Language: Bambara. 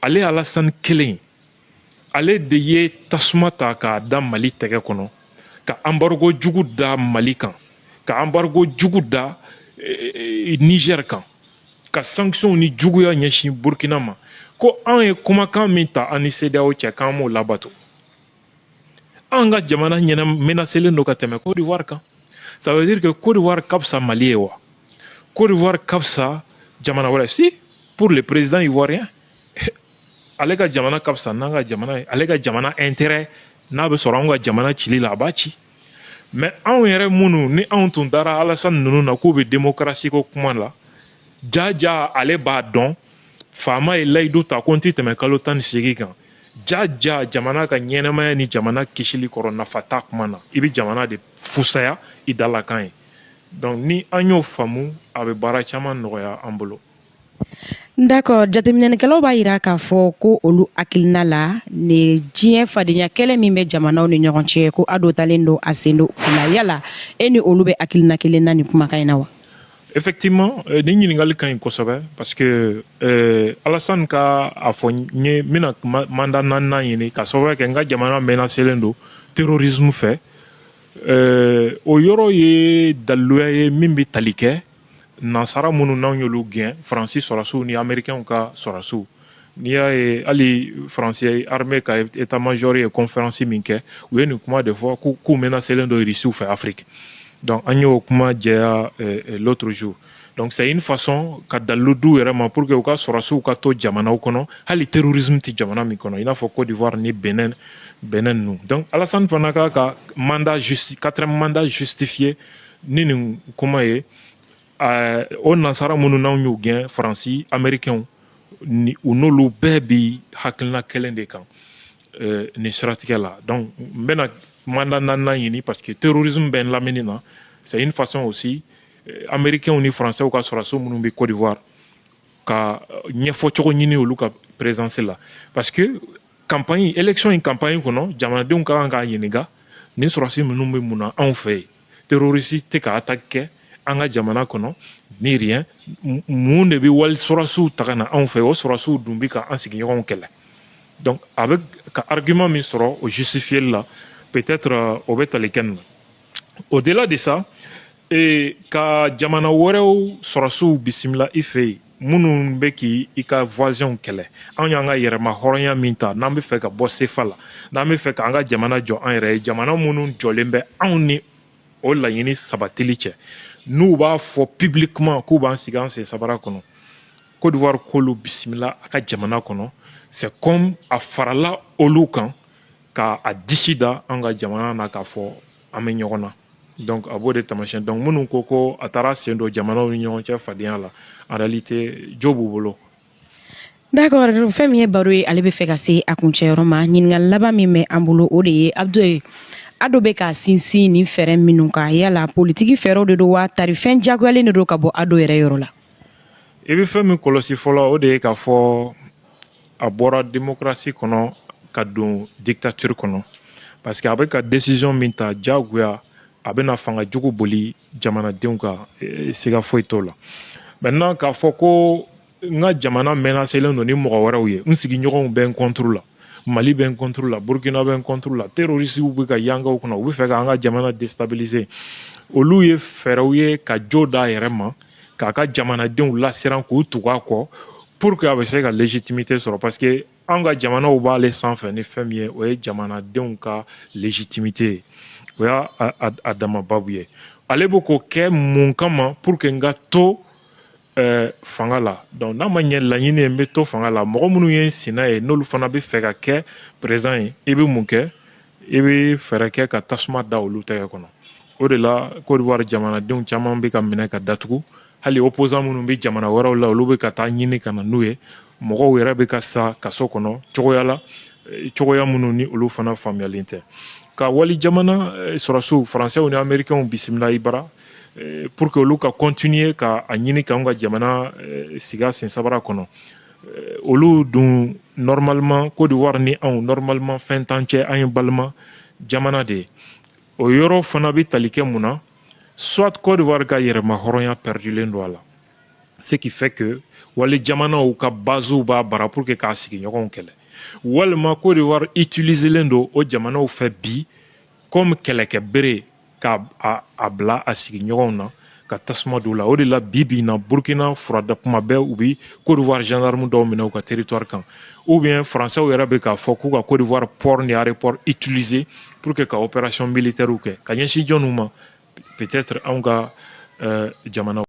ale Alassane kelen ale de ye tasuma ta k'a da mali tɛgɛ kɔnɔ ka embargo jugu da mali kan ka embargo jugu da eh, eh, niger kan ka sanctionw ni juguya ɲɛsin burkina ma ko an ye kumakan min ta an ni CEDEAO cɛ k'an m'o labato an ka jamana ɲɛna menacelen don ka tɛmɛ Côte d'Ivoire kan ça veut dire que Côte d'Ivoire ka fisa Mali ye wa Côte d'Ivoire ka fisa jamana wɛrɛ si pour le président ivoirien ale ka jamana ka fisa n'an ka jamana ye ale ka jamana intérêt n'a bɛ sɔrɔ anw ka jamana cili la a b'a ci mais anw yɛrɛ minnu ni anw tun dara Alassane ninnu na k'u bɛ démocratie ko kuma la jaja ale b'a dɔn faama ye layidu ta ko n tɛ tɛmɛ kalo tan ni seegin kan jaja jamana ka ɲɛnamaya ni jamana kisili kɔrɔ nafa t'a kuma na i bɛ jamana de fusaya i dalakan ye donc ni an y'o faamu a bɛ baara caman nɔgɔya an bolo D'accord jateminɛlikɛlaw b'a yira k'a fɔ ko olu hakilina la ni diɲɛ fadenya kɛlɛ min bɛ jamanaw ni ɲɔgɔn cɛ ko Ado talen don a sen don o la yala e ni olu bɛ hakilina kelen na nin kumakan in na wa Effectivement, euh, ni ɲininkali ka ɲi kosɛbɛ parce que euh, Alassane ka a fɔ n ye n bɛna mandat naaninan ɲini ka sababu kɛ n ka jamana menacelen don terrorisme fɛ euh, o yɔrɔ ye daliluya ye min bɛ tali kɛ nansara minnu n'anw y'olu gɛn faransi sɔrɔsiw ni amerikɛnw ka sɔrɔsiw n'i y'a ye hali faransi armée ka état major ye conférence min kɛ u ye nin kuma de fɔ k'u menacelen don irisiw fɛ afrique donc an y'o kuma jɛya eh, eh, l'autre jour donc c'est une façon ka dalilu d'u yɛrɛ ma pour que u ka sɔrɔsiw ka to jamanaw kɔnɔ hali terrorisme tɛ jamana min kɔnɔ i n'a fɔ cote d'ivoire ni benin benin ninnu donc alassane fana ka ka mandat justi quatrième mandat justifié ni nin kuma ye ɛɛ eh, o nansara minnu n'anw y'u gɛn faransi amerikɛnw ni u n'olu bɛɛ bi hakilina kelen de kan eh, nin siratigɛ la donc n bɛna mandat naaninan ɲini parce que terrorisme bɛ n lamini na c'est une façon aussi eh, amerikɛnw ni faransɛw ka sɔrɔsi minnu bɛ cote d'ivoire ka ɲɛfɔ cogo ɲini olu ka présence la parce que campagne élection in campagne kɔnɔ jamanadenw ka kan k'a ɲininka nin sɔrɔsi ninnu bɛ mun na anw fɛ yen terroriste tɛ ka attaque kɛ an ka jamana kɔnɔ ni rien mun de bɛ wali sɔrɔsiw ta ka na anw fɛ o sɔrɔsiw dun bɛ ka an sigiɲɔgɔnw kɛlɛ donc a bɛ ka argument min sɔrɔ o justifier la peut-être euh, o bɛ tali kɛ nin na au delà de ça ee ka jamana wɛrɛw sɔrɔsiw bisimila i fɛ yen minnu bɛ k'i i ka voisins kɛlɛ anw y'an ka yɛrɛma hɔrɔnya min ta n'an bɛ fɛ ka bɔ sefa la n'an bɛ fɛ k'an ka jamana jɔ an yɛrɛ ye jamana minnu jɔlen bɛ anw ni o laɲini sabatili cɛ n'u b'a fɔ publiquement k'u b'an sigi an sen sabara kɔnɔ Côte d'Ivoire k'olu bisimila a ka jamana kɔnɔ c'est comme a farala olu kan ka a disi da an ka jamana na k'a fɔ an bɛ ɲɔgɔn na donc a b'o de taamasiyɛn donc minnu ko ko a taara sen don jamanaw ni ɲɔgɔn cɛ fadenya la en réalité jo b'u bolo D'accord, fɛn min ye baro ye ale bɛ fɛ ka se a kuncɛyɔrɔ ma ɲininkali laban min bɛ an bolo o de ye Abdou ado bɛ ka sinsin nin fɛɛrɛ minnu kan yala politiki fɛɛrɛw de don wa tari fɛn jagoyalen de don ka bɔ ado yɛrɛ yɔrɔ la i bɛ fɛn min kɔlɔsi fɔlɔ o de ye k'a fɔ a bɔra démocratie kɔnɔ ka don dictature kɔnɔ parce que a bɛ ka décision min ta diyagoya a bɛna fanga jugu boli jamanadenw kan eh, siga foyi t'o la maintenant k'a fɔ ko n ka jamana menacelen don ni mɔgɔ wɛrɛw ye n sigiɲɔgɔnw bɛ n contre la mali bɛ n contre la burkina bɛ n contre la terorisiw bɛ ka yankaw kɔnɔ u bɛ fɛ k'an ka jamana déstabiliser olu ye fɛɛrɛw ye ka jo d'a yɛrɛ ma k'a ka jamanadenw lasiran k'u tugu a kɔ pour que a bɛ se ka légitimité sɔrɔ parce que an ka jamanaw b'ale sanfɛ ni fɛn min ye o ye jamanadenw ka légitimité ye o y'a a dama babu ye ale bɛ k'o kɛ mun kama pour que n ka to ɛɛ fanga la donc n'a ma ɲɛ laɲini ye n bɛ to fanga la mɔgɔ minnu ye n sina ye n'olu fana bɛ fɛ ka kɛ président ye i bɛ mun kɛ i bɛ fɛɛrɛ kɛ ka tasuma da olu tɛgɛ kɔnɔ o de la Côte d'Ivoire jamanadenw caman bɛ ka minɛ ka datugu hali opposant minnu bɛ jamana wɛrɛw la olu bɛ ka taa ɲini ka na n'u ye mɔgɔw yɛrɛ bɛ ka sa kaso kɔnɔ cogoya la eh, cogoya minnu ni olu fana faamuyalen tɛ ka wali jamana eh, sɔrɔdasiw faransɛw ni amerikɛnw bisimila i bara eh, pour que olu ka continuer ka a ɲini k'anw ka jamana sigi a sen sabara kɔnɔ Eh, olu dun normalement Côte d'Ivoire ni anw normalement fɛn t'an cɛ an ye balima jamana de ye o yɔrɔ fana bɛ tali kɛ mun na soit Côte d'Ivoire ka yɛrɛma hɔrɔnya perdulen don a la ce qui fait que wali jamanaw ka basew b'a bara pour que k'a sigiɲɔgɔnw kɛlɛ walima Côte d'Ivoire utiliselen don o jamanaw fɛ bi comme kɛlɛkɛ bere k'a bila a sigi ɲɔgɔnw na ka tasuma don la o de la bi bi na burkina furada kuma bɛɛ u bi Côte d'Ivoire gendarme dɔw minɛ u ka territoire kan ou bien françaisw yɛrɛ bɛ k'a fɔ k'u ka Côte d'Ivoire port ni aéroport utiliser pour que ka opération militaire kɛ ka ɲɛsin jɔnniw ma peut-être anw ka euh, jamana